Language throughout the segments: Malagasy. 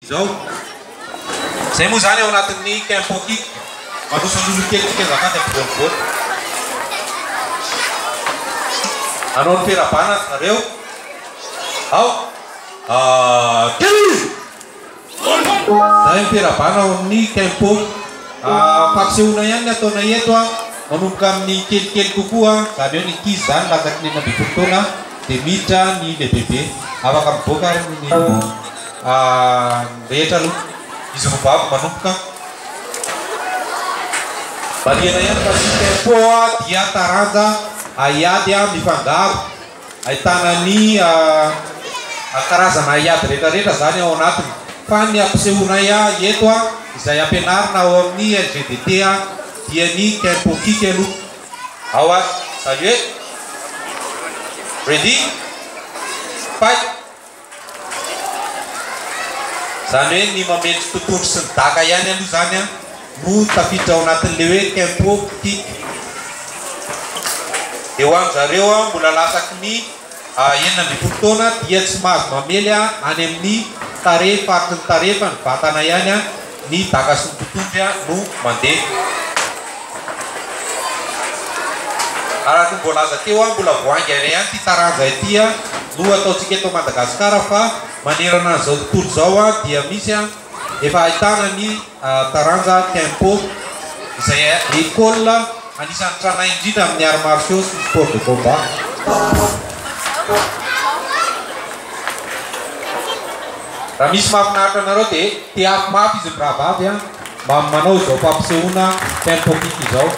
Izao. Izay moa izany ao anatin'ny Qu'un potit, manosoloso kely tsika azafady ampovoany voany. Nanao ny fera-bana ry zareo. Ao. Ah, Telo! Izay ny fera-bana ao amin'ny Qu'un pot. Ah, fampisehoana ihany ny ataonay eto an. Manomboka amin'ny kelikely kokoa, izany hoe ny ankizy izany latsaky ny enina ambin'ny folo taona. Dia miditra ny lehibehibe. Afaka mivoaka ary ny rehetra aloha. Izy roa babo manomboka. Marihana ihany fa ny tempo dia taranja haiady mifangaro. Ahitana ny karazana haiady rehetrarehetra izany ao anatiny. Fa ny ampisehoanay eto, izay ampianarina ao amin'ny LGDT dia ny tempo kick aloha. How are Salut e Ready Fight Izany hoe ny mametra totohondry sy ny daka ihany aloha izany an no tafiditra ao anatin'ilay hoe tempo kick. Dia ho an-dry zareo an mbola lasaky ny. enina ambin'ny folo taona dia tsy mahazo mamely any amin'ny tarehy faritry ny tarehy fa ny vatana ihany ny daka sy ny totohondry no mandeha. Araka ny voalaza teo, mbola vao hainga iray ihany ity taranja ity no ataontsika eto Madagasikara fa manerana an'izao tontolo izao dia misy Efa ahitana ny taranja Kenpo izay école anisan'ny tranainy indrindra amin'ny arts martiaux sy ny sports de combat. Raha misy mahafinaritra anareo dia teako mafy izy mirahavavy an mba manao izao fampisehoana Kenpo kick izao.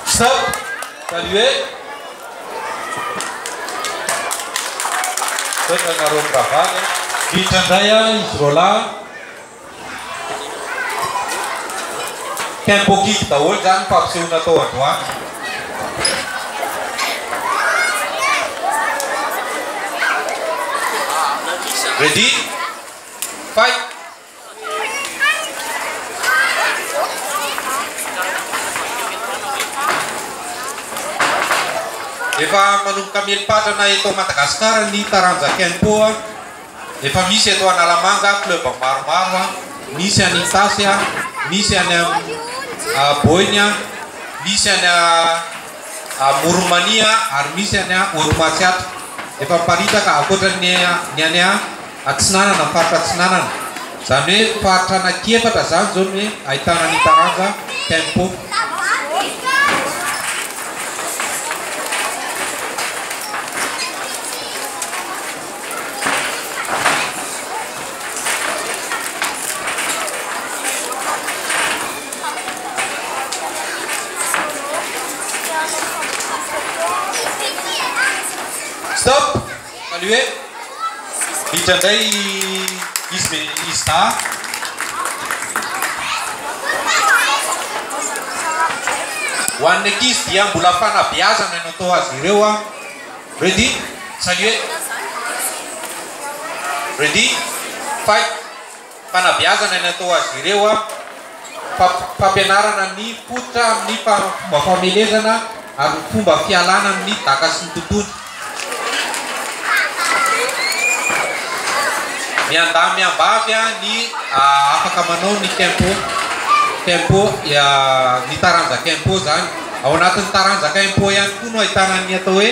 Stop! Saluer Toetra nareo mirahavavy a. Vitra ndray a izy roalahy. Tempo kick daholo zany fampisehoana tao androany. Ready? Fight! Efa manomboka mieli-patrana eto Madagasikara ny taranja Kenpo. Efa misy eto Analamanga club maromaro, misy any Itasy, misy any Boina, misy any Amoron'i Mania ary misy any Haute Matsiatra. Efa miparitaka ankoatra ny any Atsinanana, faritra Atsinanana, izany hoe faritra anaky efatra izany izao no ahitana ny taranja Tempo. Saluer. Miditra indray i izy be izy dahy. Ho an'ny ankizy dia mbola fanabeazana no atao azy ireo a. Ready? Saluer. Ready? Fight. Fanabeazana ny atao azy ireo fa fampianarana ny fototra amin'ny fomba famelezana ary ny fomba fialana amin'ny daka sy ny tontolo. Miandahy miambavy ny afaka manao ny tempo, tempo, ny taranjaka impôt izany. Ao anatin'ny taranjaka impôt ihany koa no ahitana ny atao hoe.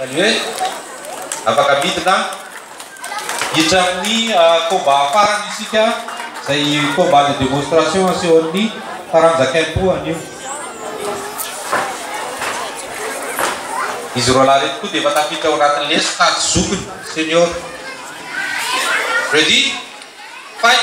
Izany hoe afaka midina hiditra amin'ny combat farany isika, izay combat de démonstration asehon'ny taranja Kempo anio. Izy roa lahy ireto koa dia efa tafiditra ao anatin'ny lesy kajy zokiny, senior. Ready? Fight!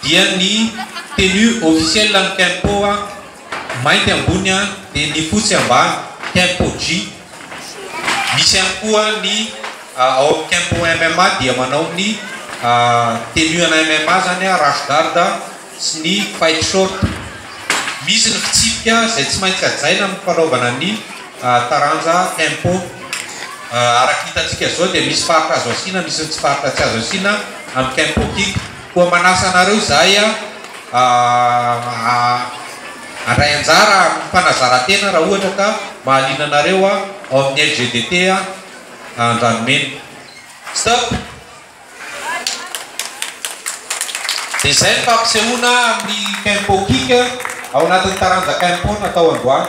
dia ny tenue officielle an'ny Kenpo mainty ambony dia ny fotsy ambany, Kenpo-Gi. Misy ihany koa ny ao amin'ny Kenpo MMA dia manao ny tenue ana MMA izany, rash guard sy ny fight short. Misy ny fitsipika izay tsy maintsy hajaina amin'ny fanaovana ny taranja Kenpo. Araka ny hitantsika izao dia misy faritra azo asiana, misy ny tsy faritra tsy azo asiana amin'ny Kenpo-Kick. Koa manasa anareo izahay handray anjara amin'ny fanazarantena raha ohatra ka mahaliana anareo ao amin'ny LGDT Andranomena. Stop! Dia izay ny fampisehoana amin'ny Kempo Kick ao anatin'ny taranja Kempo natao androany.